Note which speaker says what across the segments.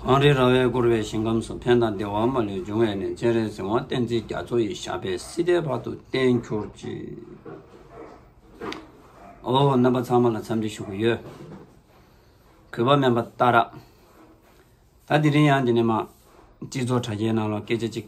Speaker 1: གངས་རིའི་ར་བས་བསྐོར་བའི་ཞིང་ཁམས་སུ་ཕན་དང་བདེ་བ་མ་ལུས་འབྱུང་བས་ནས་སྤྱན་རས་གཟིགས་དབང་བསྟན་འཛིན་རྒྱ་མཚོ་ཡི་ཞབས་པད་སྲིད་མཐའི་བར་དུ་བརྟན་གྱུར་ཅིག། ཨོ། རྣམ་པ་ཚང་མ་ལ་འཚམས་འདྲི་ཞུ་གི་ཡོད། གུས་པ་སྨན་པ་རྟ་ར། ད་དེ་རིང་ཡང་འདི་ནས་མ། སྤྱི་ཚོགས་དྲ་རྒྱའི་ནང་ལོག་སྐད་ཆ་གཅིག།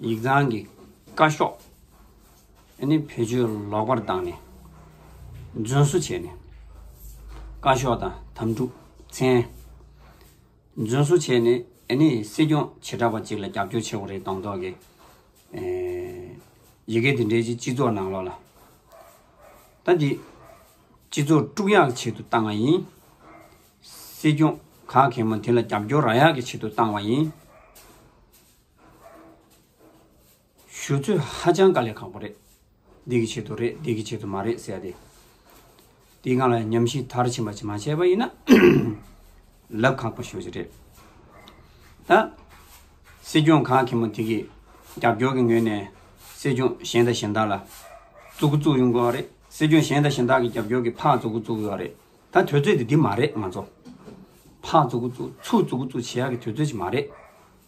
Speaker 1: ཡིག་ཚང་གི་བཀའ་ཤོག་ནི་བེད་སྤྱོད་ལོག་པར་བཏང་ནས་རྫུན་བཟོ་བྱས་ནས། བཀའ་ཤོག་དང་དམ་ཕྲུག་མཚན། རྫུན་བཟོ་བྱས་ནས་ནི་སྲིད་སྐྱོང་བྱེ་བྲག་པ་གཅིག་ལ་རྒྱབ་སྐྱོར་བྱས་བ་རེད་དང་ཐོག་གི་ཡི་གེ་དེ་འདྲས་ཀྱི་སྤྱི་ཚོགས་ནང་ལོག་ལ། ད་འདི་སྤྱི་ཚོགས་དཀྲུག་ཡག་ཆེད་དུ་བཏང་བ་ཡིན། སྲིད་སྐྱོང་ག་གེ་མོ་དེ་ལ་རྒྱབ་སྐྱོར་ར་ཡག་གི་ཆེད་དུ་བཏང་བ་ཡིན། ཞུ་ཚོད་ཧ་ཅང་དཀའ་ལས་ཁག་པོ་རེད། འདི་གི་ཆེད་དུ་རེད་འདི་གི་ཆེད་དུ་མ་རེད་ཟེར་ཏེ། དེའི་སྒང་ལ་ཉམས་ཞིབ་མཐར་ཕྱིན་པ་ཞིག་མ་བྱས་པ་ཡིན་ན། ལབ་ཁག་པོ་ཤོར་གྱི་རེད། ད། སྲིད་སྐྱོང་ག་གེ་མོ་དེ་གིས་རྒྱབ་སྐྱོར་གྱི་ངོས་ནས་སྲིད་སྐྱོང་གཞན་དང་གཞན་དག་ལ། བཙུགས་བཙུགས་ཡོང་དགོས་བ་རེད། སྲིད་སྐྱོང་གཞན་དང་གཞན་དག་གི་རྒྱབ་སྐྱོར་གྱི་ཕག་བཙུགས་བཙུགས་ཡོད་བ་རེད། ད་དོད་ཚོད་དེ་འདི་མ་རེད་ང་ཚོ། ཕག་བཙུགས་བཙུགས་ཚུགས་བཙུགས་བཙུགས་བྱེད་ཡག་གི་དོད་ཚོད་ཅིག་མ་རེད།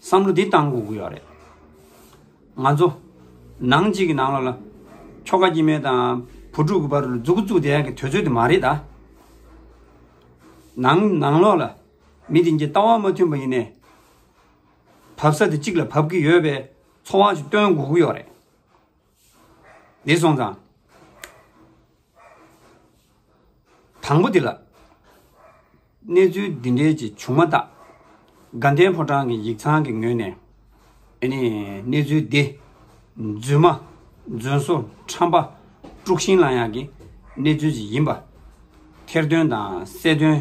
Speaker 1: བསམ་བློ་འདི་གཏང་དགོས་ཀྱི་ཡོད་རེད། ང་ཚོ། ནང་གཅིག་གི་ནང་ལོགས་ལ། ཁྱོ་ག་སྐྱིད་མེད་དང། བུ་ཕྲུག་གི་བར་རུ་རྫུ་གུ་རྫུ་བསྡད་ཡག་གི་དོད་ཚོད་དེ་མ་རེད་ད། ནང་ནང་ལོགས་ལ། མི་དེ་གཉིས་ལྟ་བ་མ་མཐུན་པ་ཡིན་ནས། བབས་ས་དེ་གཅིག་ལ་བབས་ཀྱི་ཡོད་པས། ཚོགས་དབང་ཞིག་སྟོན་དགོས་ཀྱི་ཡོད་རེད། འདས་སོང་ཙང། དང་པོ་འདི་ལ། གནས་ཚུལ་འདི་འདྲའི་ཅིག་བྱུང་མ་ཐག། དགའ་ལྡན་ཕོ་བྲང་གི་ཡིག་ཚང་གི་ངོས་ནས། ནི། གནས་ཚུལ་འདི། རྫུན་མ། རྫུན་བཟོ། ཁྲམ་པ། དཀྲུག་ཤིང་ལ་ཡང་གི། གནས་ཚུལ་ཅིག་ཡིན་པ། ཐེར་འདོན་དང་གསལ་འདོན།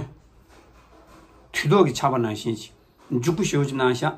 Speaker 1: དུས་ཐོག་གི་ཆར་པ་ནང་བཞིན་ཅིག། འཇུག་པོ་ཞུ་གནང་ཤག།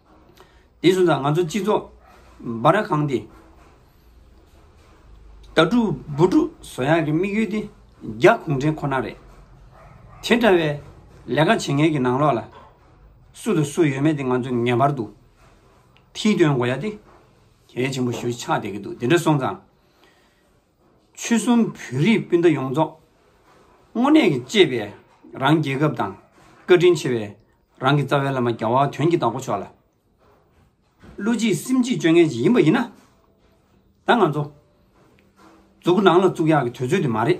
Speaker 1: དེ་སོང་ཙང་ང་ཚོ་སྤྱི་ཚོགས་སྦ་ར་གང་དེ། དྭ་ཕྲུག་བུ་ཕྲུག་བཟོ་ཡག་གི་དམིགས་ཡུལ་དེ་རྒྱ་གུང་ཁྲན་ཁོ་ན་རེད། དེ་འདྲ་བའི་ལས་ཀ་བྱེད་མཁན་གྱི་ནང་ལོགས་ལ་སུ་དང་སུ་ཡོད་མེད་དེ་ང་ཚོས་ངེས་པར་དུ་མཐིལ་སྟོན་དགོས་ཡ་དེ་གལ་ཆེན་པོ་ཞུ་ཆགས་བསྡད་ཀྱི་འདུག་དེ་འདྲ་སོང་ཙང། ཆོལ་གསུམ་བོད་རིགས་སྤུན་ཟླ་ཡོངས་རྫོགས། དངོས་གནས་ཀྱི་གཅེས་པའི་རང་རྒྱལ་ཁབ་དང། བཀའ་དྲིན་ཆེ་བའི་རང་གི་རྩ་བའི་བླ་མ་རྒྱ་བ་དོན་གྱི་བདག་པོ་མཆོག་ལ། བློ་གཅིག་སེམས་གཅིག་སྤྱོད་ངན་གཅིག་ཡིན་པ་ཡིན་ན། ད་ང་ཚོ། རྫོགས་སྐུ་ནང་ལ་བཙུགས་ཡག་གི་དུས་ཚོད་དེ་མ་རེད།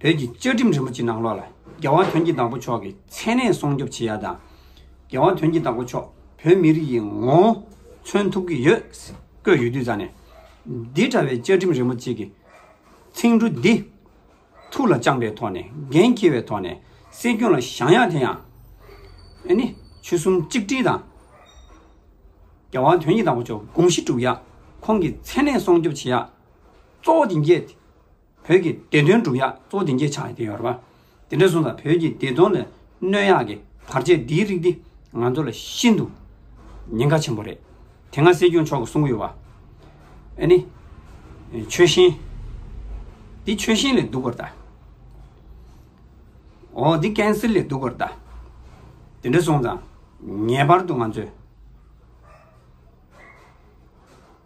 Speaker 1: བོད་ཀྱི་བཅའ་ཁྲིམས་རིན་པོ་ཆེ་ནང་ལོགས་ལ་རྒྱལ་དབང་དོན་གྱི་བདག་པོ་མཆོག་གིས་མཚན་གནས་སྲུང་སྐྱོབ་བྱེད་ཡ་དང། རྒྱལ་དབང་དོན་གྱི་བདག་པོ་མཆོག་བོད་མི་རིགས་ཀྱི་ངོ་བོ་མཚོན་ཐུབ་ཀྱི་ཡོད་བཀོད་ཡོད་དུས་རྩ་ནས། འདི་འདྲ་བའི་བཅའ་ཁྲིམས་རིན་པོ་ཆེ་གི་ཚིག་འབྲུ་འདི་ཐུགས་ལ་བཅངས་པའི་ཐོག་ནས་འགན་འཁྱེར་བའི་ཐོག་ནས་སྲིད་སྐྱོང་ལ་བཞག་ཡ་དེ་ཡང། ཨེ་ནི་ཆོལ་གསུམ་གཅིག་སྒྲིལ་དང། རྒྱལ་དབང་དོན་གྱི་བདག་པོ་མཆོག་དགོངས་གཞི་གྲུབ་ཡ་ཁོང་གིས་མཚན་གནས་སྲུང་སྐྱོབ་བྱེད་ཡ་གཙོ་བོ་དེ་འགྱེད། བོད་ཀྱི་བདེ་དོན་སྒྲུབ་ཡག་གཙོ་བོ་དེང་རྒྱལ་ཆགས་ཡོད་དེ་ཡོད་རེད་པ། དེ་འདྲ་སོང་ཙང་བོད་ཀྱི་བདེ་དོན་ལ་གནོད་ཡག་གི་བར་ཆད་འདིའི་རིགས་འདི་ང་ཚོ་ལ་ཤིན་ཏུ་ཉེན་ཁ་ཆེན་པོ་རེད། དེ་སྔ་སྲིད་སྐྱོང་མཆོག་གིས་གསུང་གི་ཡོད་པ། ཨ་ནི། ཆོལ་ཞེན། འདི་ཆོལ་ཞེན་ལས་སྡུག་པར་གདའ། འོ་འདི་ཀན་སིལ་ལས་སྡུག་པར་གདའ། དེ་འདྲ་སོང་ཙང་ངེས་པར་དུ་ང་ཚོས།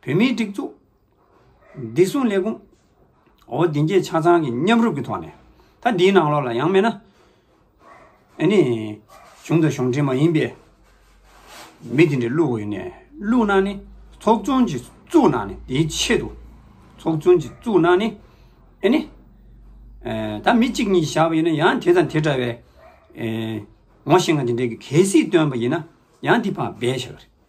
Speaker 1: བོད་མིའི་སྒྲིག་འཛུགས་བདེ་སྲུང་ལས་ཁུངས། འོ་དེ་འགྱེད་ཆ་ཚང་གི་མཉམ་རུབ་ཀྱི་ཐོག་ནས། ད་འདིའི་ནང་ལོགས་ལ་ཡང་མེད་ན། ཨེ་ནི། གཞུང་དང་གཞུང་འབྲེལ་མ་ཡིན་པའི། མི་དེ་འདྲ་བླུག་འོས་ནས་བླུག་ན་ནི། ཚོགས་ཆུང་གཅིག་བཙུགས་ན་ནི་དེའི་ཆེད་དུ། ཚོགས་ཆུང་གཅིག་བཙུགས་ན་ནི། ཨེ་ནི། ད་མི་གཅིག་གཉིས་བཞག་པ་ཡིན་ན་ཡང་དེ་དང་དེ་འདྲ་བའི། ངོ་ཤེས་ང་དེ་འདྲའི་གལ་སྲིད་བཏོན་པ་ཡིན་ན་ཡང་དེ་ཕངས་འབད་བྱ་གི་རེད།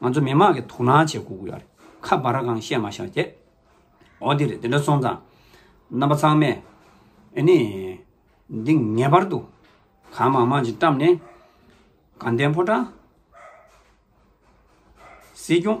Speaker 1: ང་ཚོ་མི་མང་གི་དོ་སྣང་བྱེད་དགོས་ཀྱི་ཡོད་རེད། ཁ་འབར་ར་གང་བཤད་མ་བཞག་ཀྱེ། འོ་དེ་རེད་དེ་འདྲ་སོང་ཙང། རྣམ་པ་ཚང་མས། ཨེ་ནི། འདི་ངེས་པར་དུ། གང་མང་མང་ཅིག་བཀྲམས་ནས། དགའ་ལྡན་ཕོ་བྲང། སྲིད་སྐྱོང།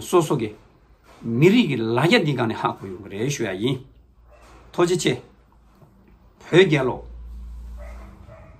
Speaker 1: སོ་སོ་གི་མི་རིགས་ཀྱི་ལ་རྒྱ་འདི་ག་ནས་ཧ་གོ་ཡོང་གི་རེད་ཞུ་ཡ་ཡིན། ཐོ་ཇེ་ཆེ། བོད་རྒྱལ་ལོ།